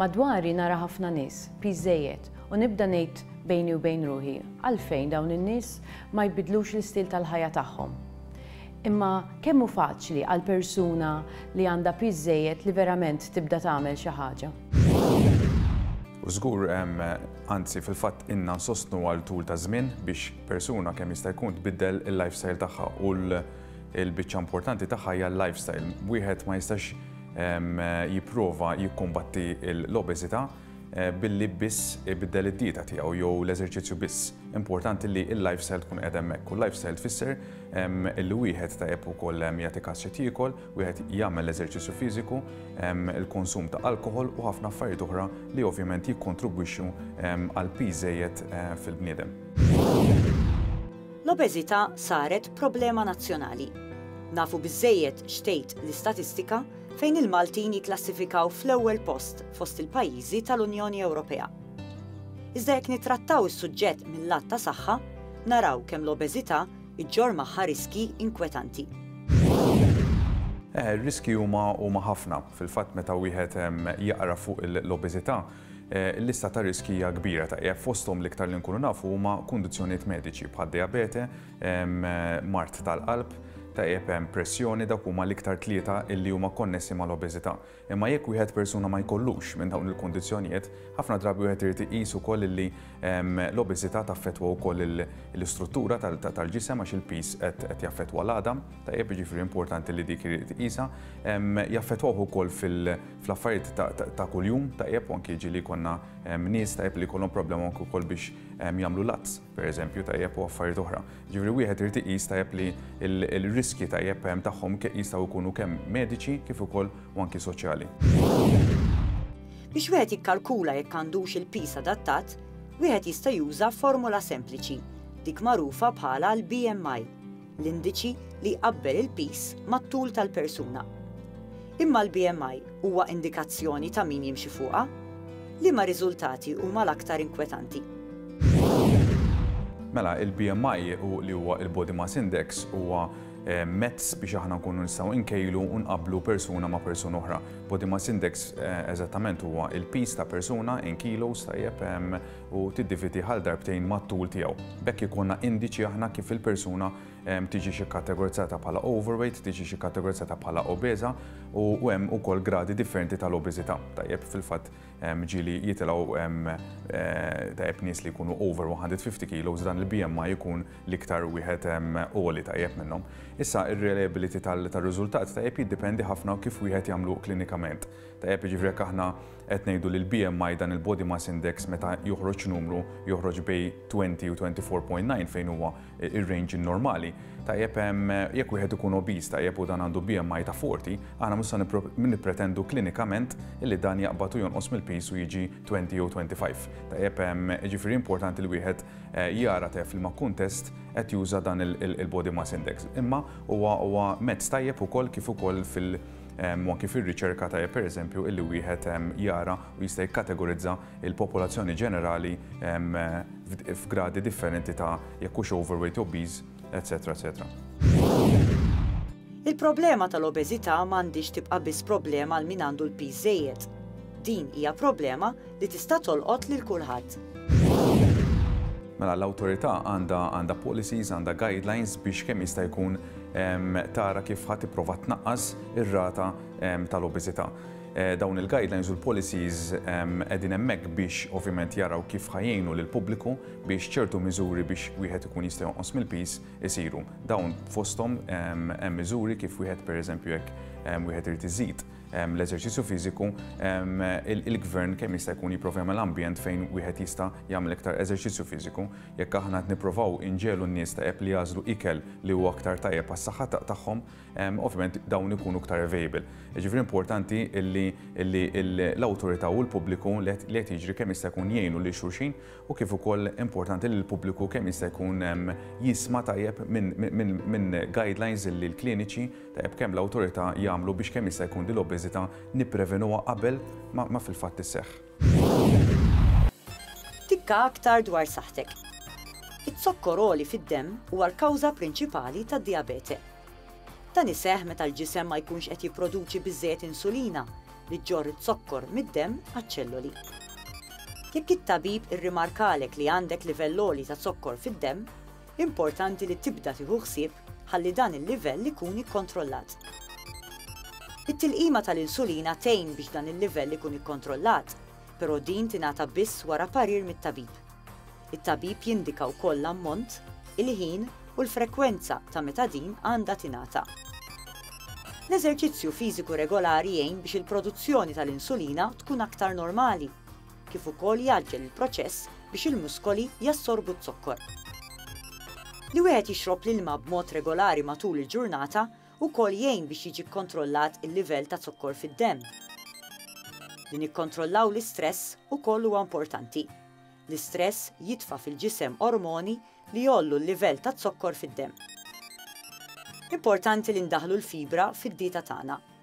Madwari nara ħafna nies, piż żejjed, u nibda ngħid bejni u bejn ruħi, għalfejn dawn in-nies ma jbiddlux l-istil tal-ħajja tagħhom? Imma kemm hu faċli għal persuna li għandha piż żejjed li verament tibda tagħmel xi ħaġa? U żgur, anzi fil-fatt inna nsostnu għal tul ta' żmien biex persuna kemm jista' jkun tbiddel il-lifestyle tagħha u l-biċċa importanti tagħha hija l-lifestyle. Wieħed ma jistax jipprova jikkumbatti l-obeżità billi biss ibiddel id-dieta tiegħu jew l-eżerċizzju biss. Importanti li l-lifestyle tkun qiegħda hemmhekk u l-lifestyle tfisser li wieħed tajjeb ukoll jagħti każ xi jiekol, wieħed jagħmel l-eżerċizzju fiżiku, il-konsum ta' alkoħol u ħafna affarijiet oħra li ovvjament jikkontribwixxu għal piż żejjed fil-bniedem. L-obeżità saret problema nazzjonali. Nafu biżżejjed x'tgħid l-istatistika fejn il-Maltin jikklassifikaw fl-ewwel post fost il-pajjiżi tal-Unjoni Ewropea. Iżda jekk nittrattaw is-suġġett mil-lat ta' saħħa, naraw kemm l-obeżità ġġorr magħha riskji inkwetanti. Eh, ir-riskji huma huma ħafna. Fil-fatt meta wieħed jaqra fuq l-obeżità, Il-lista ta' riskji hija kbira ta' e fosthom l-iktar li nkunu nafu huma kundizzjonijiet mediċi bħad-dijabete, mard tal-qalb, ta' e pressjoni dawk huma l-iktar tlieta illi huma konnessi mal-obeżità. Imma jekk wieħed persuna ma jkollux minn dawn il-kundizzjonijiet, ħafna drabi wieħed irid iqis ukoll illi L-obeżità taffettwa wkoll l-istruttura tal-ġisem għax il-piż qed jaffettwa l-għadam, tajjeb, jiġifieri importanti li dik irid tqisha. Jaffettwawh ukoll fl-affarijiet ta' kuljum, tajjeb, u anki jiġri li jkollna nies tajjeb li jkollhom problema anki wkoll biex jagħmlu l-għadd, pereżempju, tajjeb, u affarijiet oħra. Jiġifieri wieħed irid iqis tajjeb li l-riskji tajjeb tagħhom jistgħu jkunu kemm mediċi kif ukoll u anki soċjali. Biex wieħed jikkalkula jekk għandux il-piż adattat, wieħed jista' juża formola sempliċi, dik magħrufa bħala l-BMI, l-indiċi li jqabbel il-piż mat-tul tal-persuna. Imma l-BMI huwa indikazzjoni ta' min jimxi fuqha? Liema riżultati huma l-aktar inkwetanti? Mela, il-BMI u li huwa il-Body Mass Index huwa eh, mezz biex aħna nkunu nistgħu nkejlu u nqabblu persuna ma' persuna oħra. Body mass index eżattament huwa il-piż ta' persuna in kilos tajjeb u tiddividi ħal darbtejn mat-tul tiegħu. B'hekk ikollna indiċi aħna kif il-persuna tiġix ikkategorizzata bħala overweight, tiġix ikkategorizzata bħala obeża u hemm ukoll gradi differenti tal-obeżità. Tajjeb fil-fatt ġieli jitilgħu tajjeb nies li jkunu over 150 kilos dan il-BMI ikun l-iktar wieħed għoli tajjeb minnhom. Issa ir-reliability tar-riżultat tajjeb jiddependi ħafna kif wieħed jagħmlu klinikament. Tajjeb jiġifieri jekk aħna qed ngħidu li l-BMI dan il-body mass index meta joħroġ numru joħroġ bej 20 u 24.9 fejn huwa ir-range normali. Tajjeb jekk wieħed ikun obese tajjeb u dan għandu BMI ta' 40, aħna mhux se nippretendu klinikament li dan jaqbad u jonqos mill-piż u jiġi 20 jew 25. Tajjeb jiġifieri importanti li wieħed jara te f'liema kuntest qed juża dan il-body mass index. Imma huwa mezz tajjeb ukoll kif ukoll fil- u anki fir-riċerka tajjeb pereżempju illi wieħed jara u jista' jikkategorizza l-popolazzjoni ġenerali f'gradi differenti ta' jekk hux overweight, obese, etcetera, etcetera. Il-problema tal-obeżità ma għandhiex tibqa' biss problema għal min għandu l-piż żejjed. Din hija problema li tista' tolqot lil kulħadd. Mela l-awtorità għandha għandha policies, għandha guidelines biex kemm jista' jkun tara kif ħadd tipprova tnaqqas ir-rata tal-obeżità. Eh, dawn il-guidelines u l-policies qegħdin hemmhekk biex ovvjament jaraw kif ħajjinu lil pubbliku biex ċertu miżuri biex wieħed ikun jista' jonqos mill-pis isiru. Dawn fosthom hemm miżuri kif wieħed pereżempju jekk wieħed irid iżid l-eżerċizzju fiżiku, il-gvern kemm jista' jkun jipprova jagħmel ambjent fejn wieħed jista' jagħmel iktar eżerċizzju fiżiku. Jekk aħna qed nipprovaw inġegħlu n-nies tajjeb li jagħżlu ikel li huwa aktar tajjeb għas-saħħa tagħhom, ovvjament dawn ikunu iktar available. Jiġifieri importanti li l-awtorità u l-pubbliku li qed jiġri kemm jista' jkun jgħinu lil xulxin u kif ukoll importanti li l-pubbliku kemm jista' jkun jisma' tajjeb minn guidelines li l-kliniċi, Tajjeb kemm l-awtorità jagħmlu biex kemm jista' jkun din l-obeżità nipprevenuha qabel ma fil-fatt isseħħ. Tikka aktar dwar saħħtek. Iz-zokkor għoli fid-demm huwa l-kawża prinċipali tad-dijabete. Dan iseħħ meta l-ġisem ma jkunx qed jipproduċi biżżejjed insulina li ġġorr iz-zokkor mid-demm għaċ-ċelloli. Jekk it-tabib irrimarkalek li għandek livell għoli ta' zokkor fid-demm, Importanti li tibda tieħu ħsieb ħalli dan il-livell ikun ikkontrollat. It-tilqima tal-insulina tgħin biex dan il-livell ikun ikkontrollat, però din tingħata biss wara parir mit-tabib. It-tabib jindika wkoll l-ammont, il-ħin u l-frekwenza ta' meta din għandha tingħata. L-eżerċizzju fiżiku regolari jgħin biex il-produzzjoni tal-insulina tkun aktar normali. kif ukoll jgħaġġel il-proċess biex il-muskoli jassorbu z-zokkor. Li wieħed jixrob l-ilma b'mod regolari matul il-ġurnata wkoll jgħin biex jiġi kkontrollat il-livell ta' zokkor fid-demm. Li nikkontrollaw l-istress ukoll huwa importanti. L-istress jitfa' fil-ġisem ormoni li jgħollu l-livell ta' zokkor fid-demm. Importanti li ndaħħlu l-fibra fid-dieta tagħna.